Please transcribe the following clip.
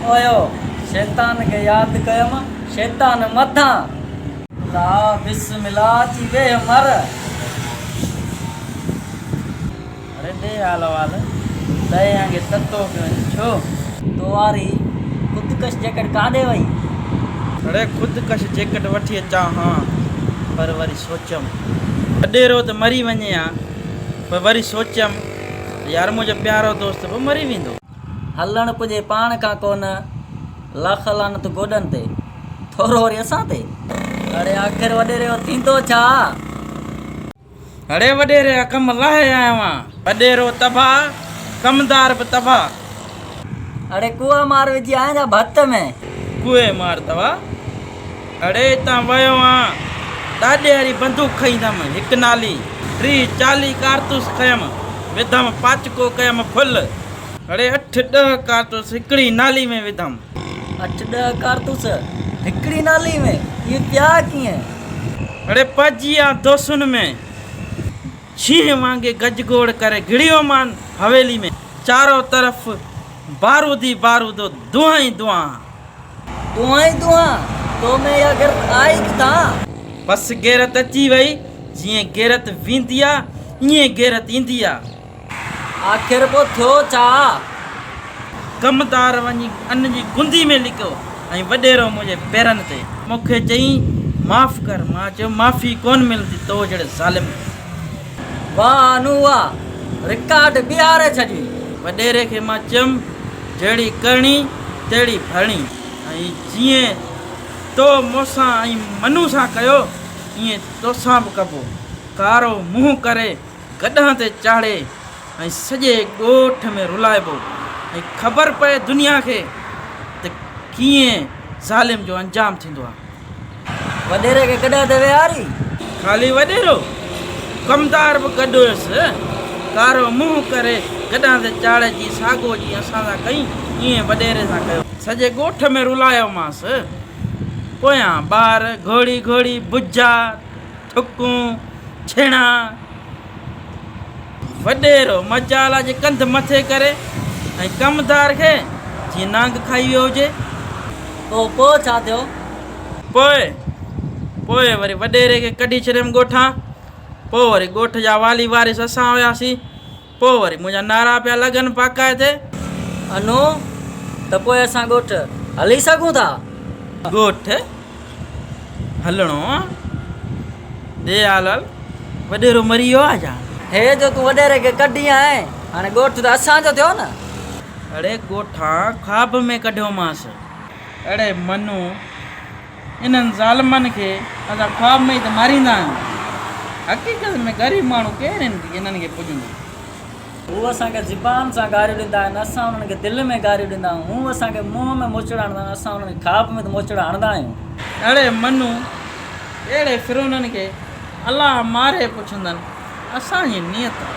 اوهيو! شيطان کي ياد ڪيم، شيطان مٿان. لا بسم الله اچي ويهه مر. اڙي ڏي حال احوال، تئي آنگي تتو پيو وڃي ڇو؟ تو واري خودڪش جيڪٽ ڪاڏي وئي؟ اڙي خودڪش جيڪٽ وٺي اچان ها، پر وري سوچيم. اڏيرو ته مري وڃي ها، پر وري سوچيم. يار منهنجو پيارو دوست به مري ويندو. هلڻ پڄي پاڻ کان ڪونه. لک لعنت گوڏن تي. ٿورو وري اسان تي. اڙي آخر وڏيري اهو ٿيندو ڇا؟ اڙي وڏيري اڪم لاهي آيو آهيان. وڏيرو تباهه ڪمدار به تباهه. اڙي ڪوهه مار وجهي آئين ٿا ڀت ۾. ڪوهه مار توهه اڙي اتان ويو آن ڏاڏي واري بندوق کنئي ٿم هڪ نالي ٽيهه چاليهه ڪارتوس کنيم وڌم پاچڪو ڪيم ڦل اڙي اٺ ڏهه ڪارتوس هڪڙي نالي ۾ وڌم. اٺ ڏهه ڪارتوس هڪڙي نالي ۾ اهي پيا ڪيئن؟ اڙي پئجي آ دوسن ۾. شينهن وانگي گج گوڙ ڪري گهڙيو مان حويلي ۾. چارو طرف بارود ئي بارود و دونهان ئي دونهان. دونهان ئي دونهان، تو ۾ يا غرت آهي ڪٿان؟ بس غيرت اچي وئي، جيئن غيرت ويندي آ، ايئن غيرت ايندي آ. آخر پوء ٿيو ڇا؟ ڪمدار وڃي ان جي ڪنڌي ۾ لڪيو ۽ وڏيرو منهنجي پيرن تي. مون کي چيائين معاف ڪر. مان چيو معافي ڪونه ملندي تو جهڙي ظالم کي. بانوء رڪارڊ بيهاري ڇڏيو. وڏيري کي مان چيم جهڙي ڪرڻي تهڙي ڀرڻي ۽ جيئن تو مون سان ۽ منو سان ڪيو ايئن توسان به ڪبو. ڪارو منهن ڪري گڏهن تي چاڙهي ۽ سڄي ڳوٺ ۾ رلائبو ۽ خبر پئي دنيا کي ته ڪيئن ظالم جو انجام ٿيندو آهي. وڏيري کي گڏهه تي ويهاري. خالي وڏيرو، ڪمدار به گڏ هيس، ڪارو منهن ڪري گڏهن تي چاڙهي جيئن ساڳو جيئن اسان سان ڪئين، ايئن وڏيري سان ڪيو. سڄي ڳوٺ ۾ رلايومانس. پويان ٻار گهوڙي گهوڙي بجا. ٿڪون، ڇيڻا، وڏيرو مجالا جي ڪنڌ مٿي ڪري ۽ ڪمدار کي جيئن نانگ کائي ويو هجي. پوء، پوء ڇا ٿيو؟ پوء، پوء وري وڏيري کي ڪڍي ڇڏيم ڳوٺان. پوء وري ڳوٺ جا والي وارث اسان هياسين. پوء وري منهنجا نعرا پيا لڳن باقاعدي. انو، ته پوء اسان ڳوٺ هلي سگهون ٿا؟ ڳوٺ هلڻو آ؟ ڙي آلل وڏيرو مري ويو آ ڄڻ. هي جو تون وڏيري کي ڪڍين آهين، هاڻي ڳوٺ ته اسان جو ٿيو نه. اڙي ڳوٺان خواب ۾ ڪڍيومانس. اڙي منو، انهن ظالمن کي اسان خواب ۾ ئي ته ماريندا آهيون. حقيقت ۾ غريب ماڻهو ڪير هن جي انهن کي پڄندو. هو اسان کي زبان سان گاريون ڏيندا آهن اسان انهن کي دل ۾ گاريون ڏيندا آهيون. هو اسان کي منهن ۾ موچڙا هڻندا آهن اسان انهن کي خواب ۾ ته موچڙا هڻندا آهيون. اڙي منو اهڙي فرعونن کي الله ماري پڇندن اسان جي نيت آهي.